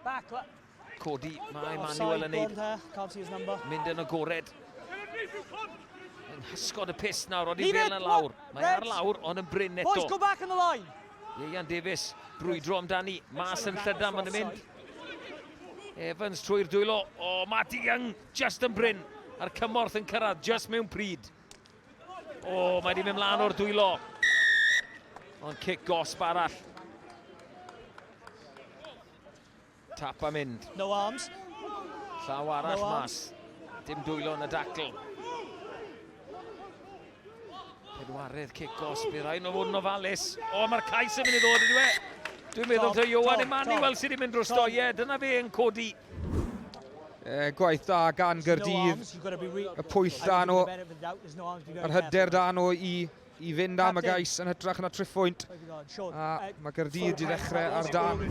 Back, Codi, mae Manuel yn neud... Mynd yn agored. Yn hysgod y pus nawr, ond i fel yn lawr. Mae ar lawr, ond yn bryn eto. Boys, go back on the line. Ieian Davies, brwydro amdani. Mas yn llydan, mae'n mynd. Evans trwy'r dwylo. O, oh, Matty Young, just yn bryn. A'r cymorth yn cyrraedd, just mewn pryd. O, oh, mae wedi mynd mlaen o'r dwylo. Ond cic gosb arall. Tap a mynd. No arms. Llaw arall no mas. Dim dwylo yn y dacl. Pedwarydd cic gosb i'r rhaid o fod yn ofalus. O, mae'r cais yn mynd i ddod yn dweud. Dwi'n meddwl taw Johan Emmanuel sydd wedi mynd dros doiau. Dyna fe yn codi E, gwaith da gan Gyrdydd. Y pwyll da nhw. Yr hyder da nhw i, i fynd am y gais yn hytrach na triffwynt. A mae Gyrdydd di ddechrau ar dan.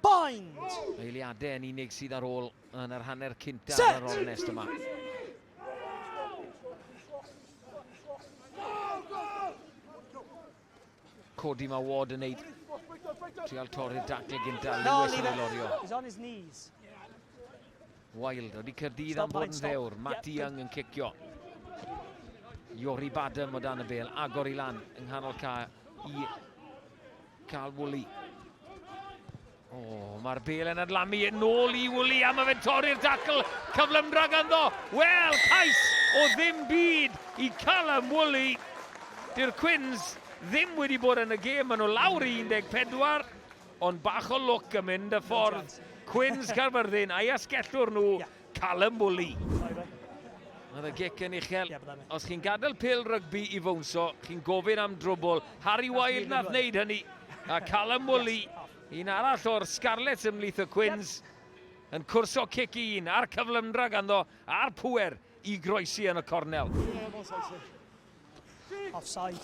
Bind! Eiliadau yn unig sydd ar ôl yn yr hanner cynta ar yr ornest yma. Codi mae Ward yn neud trial torri'r dacle gynta Lewis yn ei lorio. Wild wedi Cyrdydd am bod yn ddewr. Matt Young yn cicio. Iori Badam o dan y bel, agor i lan yng nghanol ca i Cal Woolley. O, mae'r bel yn adlamu yn ôl i Wwli a mae fe'n torri'r dacl cyflymdra ganddo. Wel, cais o ddim byd i Callum Wwli. Dyw'r Quins ddim wedi bod yn y gêm, maen nhw lawr i 14, ond bach o lwc yn mynd y ffordd Quins Caerfyrddin a'i asgellwr nhw yeah. Callum Woolley. Mae y gic yn uchel. Os chi'n gadael pil rygbi i fwnso, chi'n gofyn am drwbl. Harry Wilde nath wneud hynny. A Callum Woolley, un arall o'r Scarlets ymlith y Cwins, yn cwrso cic un a'r cyflymdra ganddo a'r pwer i groesi yn y cornel. Offside.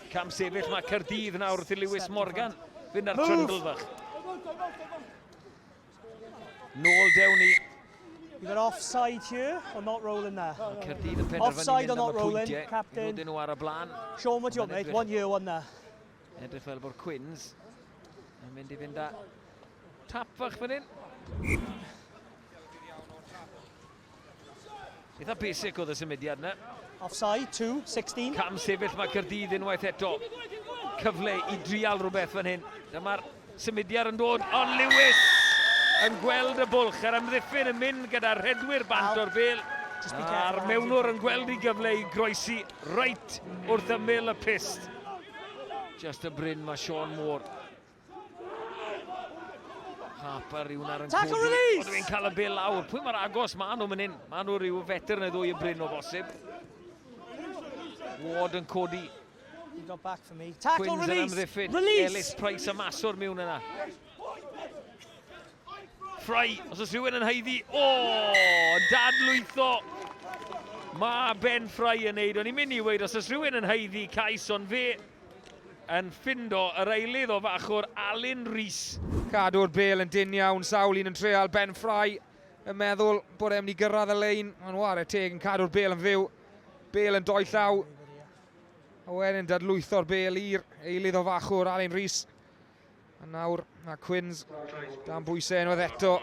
Cam sefyll mae Caerdydd nawr wrth i Lewis Morgan fynd ar trundle fach. Nôl dewn ni. You've got offside here or not rolling there? Caerdydd yn penderfynu offside or not rolling, captain. Rwy'n nhw ar y blaen. Sean, what do you want, mate? One here, one there. Edrych fel bod Quinns yn mynd i fynd â tap fach fan hyn. Eitha basic oedd y symudiad yna. Offside, 2, 16. Cam sefyll mae Cyrdydd unwaith eto. Cyfle i drial rhywbeth fan hyn. Dyma'r symudiad yn dod, ond Lewis yn gweld y bwlch a'r amddiffyn yn mynd gyda'r rhedwyr bant o'r bel. A'r mewnwr yn gweld i gyfle i groesi reit wrth ymyl y pist. Just y bryn mae Sean Moore. Harper yw'n ar yn Tackle codi. release! Ond dwi'n cael y bil lawr. Pwy mae'r agos? Mae nhw mynd hyn. Mae nhw rhyw fetr neu ddwy y bryn o bosib. Ward yn codi. You got back for me. Tackle Quinns yn release! amddiffyn. Release! Ellis Price a Maswr miwn yna. Fry, os oes rhywun yn haeddi. O, dad lwytho. Mae Ben Fry yn neud. O'n i'n mynd i weid, os oes rhywun yn haeddi cais, ond fe Yn ffindo yr eilydd o fachwr Alun Rees. Cadw'r bel yn dynn iawn, sawl un yn treal, Ben Fry yn meddwl bod e'n mynd i gyrraedd y lein, ond ware teg yn cadw'r bel yn fyw. Bel yn doi llaw, a wedyn dadlwytho'r bel i'r eilydd o fachwr Alun Rees. A nawr mae Quins dan bwysau unwaith eto.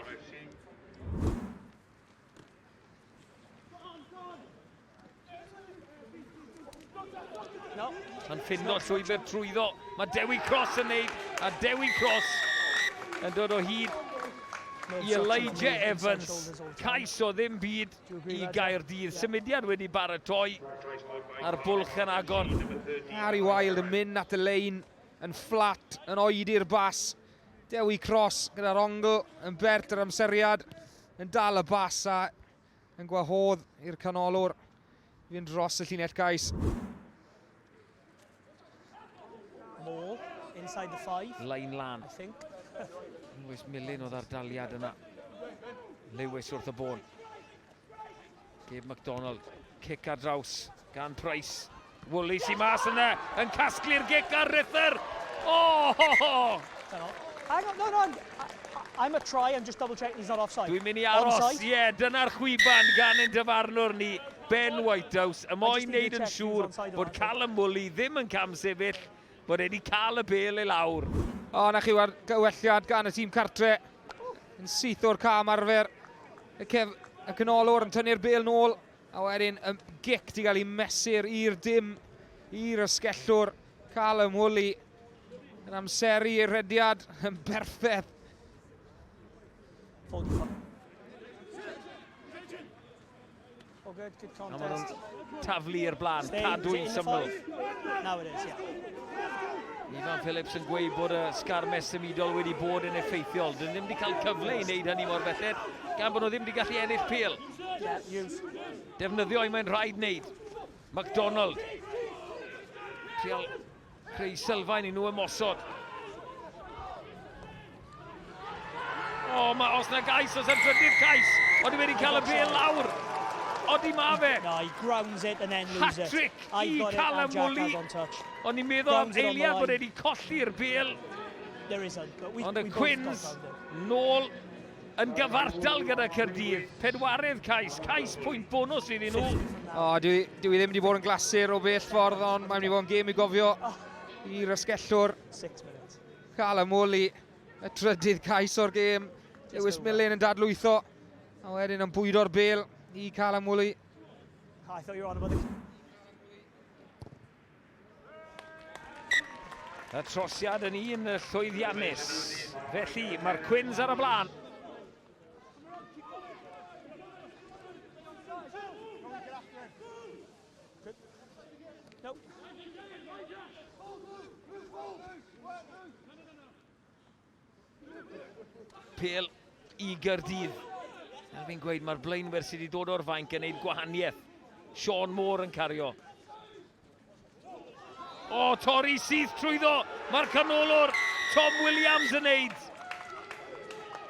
Yn ffinno llwybr trwyddo. Mae Dewi Cross yn neud, a Dewi Cross yn dod o hyd i Elijah Evans. Cais o ddim byd i Gaerdydd. Symudiad wedi baratoi a'r bwlch yn agor. Harry Wild yn mynd at y lein yn fflat, yn oedi'r bas. Dewi Cross gyda'r ongl yn bert yr amseriad, yn dal y bas a Yn gwahodd i'r canolwr i fynd dros y llinell gais. Mall, inside the five. Lain lan. I think. Lewis Millen o ddardaliad yna. Lewis wrth y bôn. Gabe McDonald, cic ar draws. Gan Price. Woolley sy'n mas yna, yn casglu'r gic ar Rither. Oh! Ho, ho. Hang on, no, no, I'm a try, I'm just double checking he's not offside. Dwi'n mynd i aros, ie, yeah, dyna'r chwiban gan ein dyfarnwr ni, Ben Whitehouse, y moyn wneud yn siŵr bod Callum Woolley ddim yn cam sefyll, bod wedi cael y bel ei lawr. O, na chi war gywelliad gan y tîm cartre, yn syth o'r cam arfer, y, cef, y canolwr yn tynnu'r bel nôl, A wedyn y gic di gael ei mesur i'r dim i'r ysgellwr cael ymhwli yn amseru i'r rhediad yn berffedd. Taflu i'r blaen, cadw'n syml. Now it is, yeah. Ivan Phillips yn gweud bod y sgarmes symudol wedi bod yn effeithiol. Dyn ddim wedi cael cyfle i wneud hynny mor belled, gan bod nhw ddim wedi gallu ennill pil. Defnyddio i mae'n rhaid wneud. McDonald. Trial creu sylfaen i nhw ymosod. O, oh, mae os na gais, os yn trydydd cais. Oeddi wedi cael y bel lawr. Oeddi ma fe. No, he grounds it and then loses it. Hat-trick i Callum Woolley. Ond ni'n meddwl am eiliad bod wedi colli'r bel. There is a, but we, Ond y Quins, nôl yn gyfartal gyda Caerdydd. Pedwaredd cais, cais pwynt bonus iddyn nhw. O, dwi, dwi ddim wedi bod yn glasur o bell ffordd, ond mae'n mynd i fod yn gêm i gofio i rasgellwr. Cael ymwoli y trydydd cais o'r gêm. Lewis Millen yn dadlwytho, a wedyn yn bwydo'r bel i cael ymwoli. Y trosiad yn un llwyddiannus. Felly, mae'r Cwins ar y blaen. Pel i Gyrdydd. Fel fi'n gweud, mae'r blaenwyr sydd wedi dod o'r fainc yn gwneud gwahaniaeth. Sean Moore yn cario. O, torri syth trwyddo. Mae'r canolwr Tom Williams yn neud.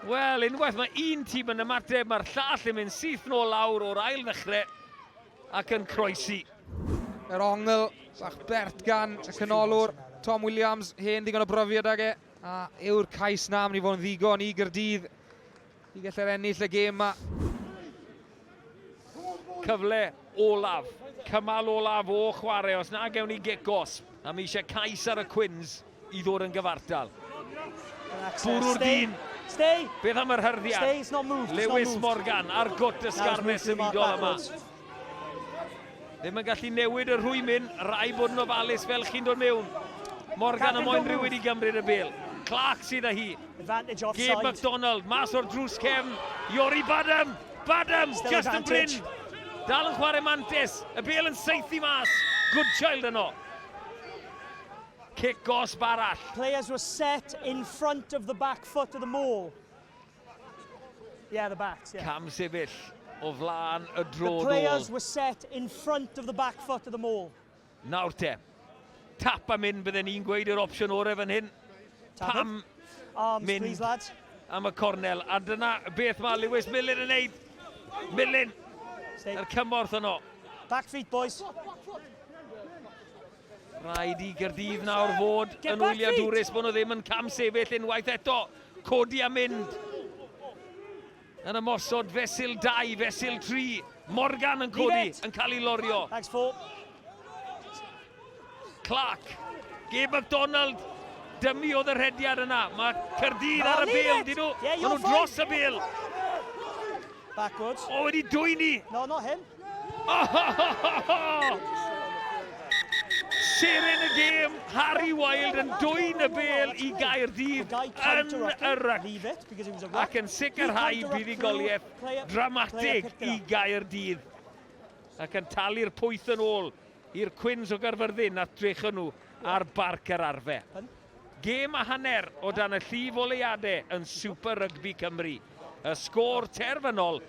Wel, unwaith mae un tîm yn ymateb, mae'r llall yn mynd syth nôl lawr o'r ail ddechrau ac yn croesi. Yr ongl, bach bert gan y canolwr Tom Williams, hen ddigon o brofiad ag e. A yw'r cais na am ni fod yn ddigon i Gyrdydd i gallu'r ennill y gêm yma? Cyfle olaf, cymal olaf o chwarae, os na gewn ni gicos, a mi eisiau cais ar y Cwins i ddod yn gyfartal. Bwrw'r dyn. Beth am yr hyrddiad? Lewis Morgan a'r gwt ysgarmes symudol yma. Ddim yn gallu newid y rhwymyn, rai bod yn ofalus fel chi'n dod mewn. Morgan am moyn rhywyd i gymryd y bel. Clark sydd â hi. Gabe McDonald, mas o'r drws cefn. Iori Badham, Badham, just yn bryn. Dal yn chwarae mantis, y bel yn seithi mas. Good child yno. Cic gosb arall. Players were set in front of the back foot of the maul. Yeah, the backs, yeah. Cam sefyll o flaen y dro The players were set in front of the back foot of the maul. Nawr te. Tap am hyn, bydden ni'n gweud yr opsiwn orau fan hyn. Pam Arms, mynd please, lads. am y cornel. A dyna beth mae Lewis Millen yn neud. Millen, yr cymorth yno. Back feet, boys. Rhaid i Gaerdydd nawr fod yn wyliadwrus bod nhw ddim yn cam sefyll unwaith eto. Codi a mynd. Yn ymosod fesul 2, fesul 3. Morgan yn codi, yn cael ei lorio. Thanks, Paul. Clark. Gabe McDonald. Dymu oedd y rhediad yna. Mae Cyrdydd ar y bil, dyn nhw. Yeah, Maen nhw dros y bil. Backwards. O, wedi dwyni. No, not him. Seren y gêm, Harry Wilde yn dwyn y bel i Gaerdydd yn y ryc ac yn sicrhau buddugoliaeth dramatig i Gaerdydd ac yn talu'r pwyth yn ôl i'r Cwins o Gaerfyrddin a drecon nhw ar Barc yr Arfe. Gêm a hanner o dan y llif oleuadau yn Super Rygbi Cymru. Y sgôr terfynol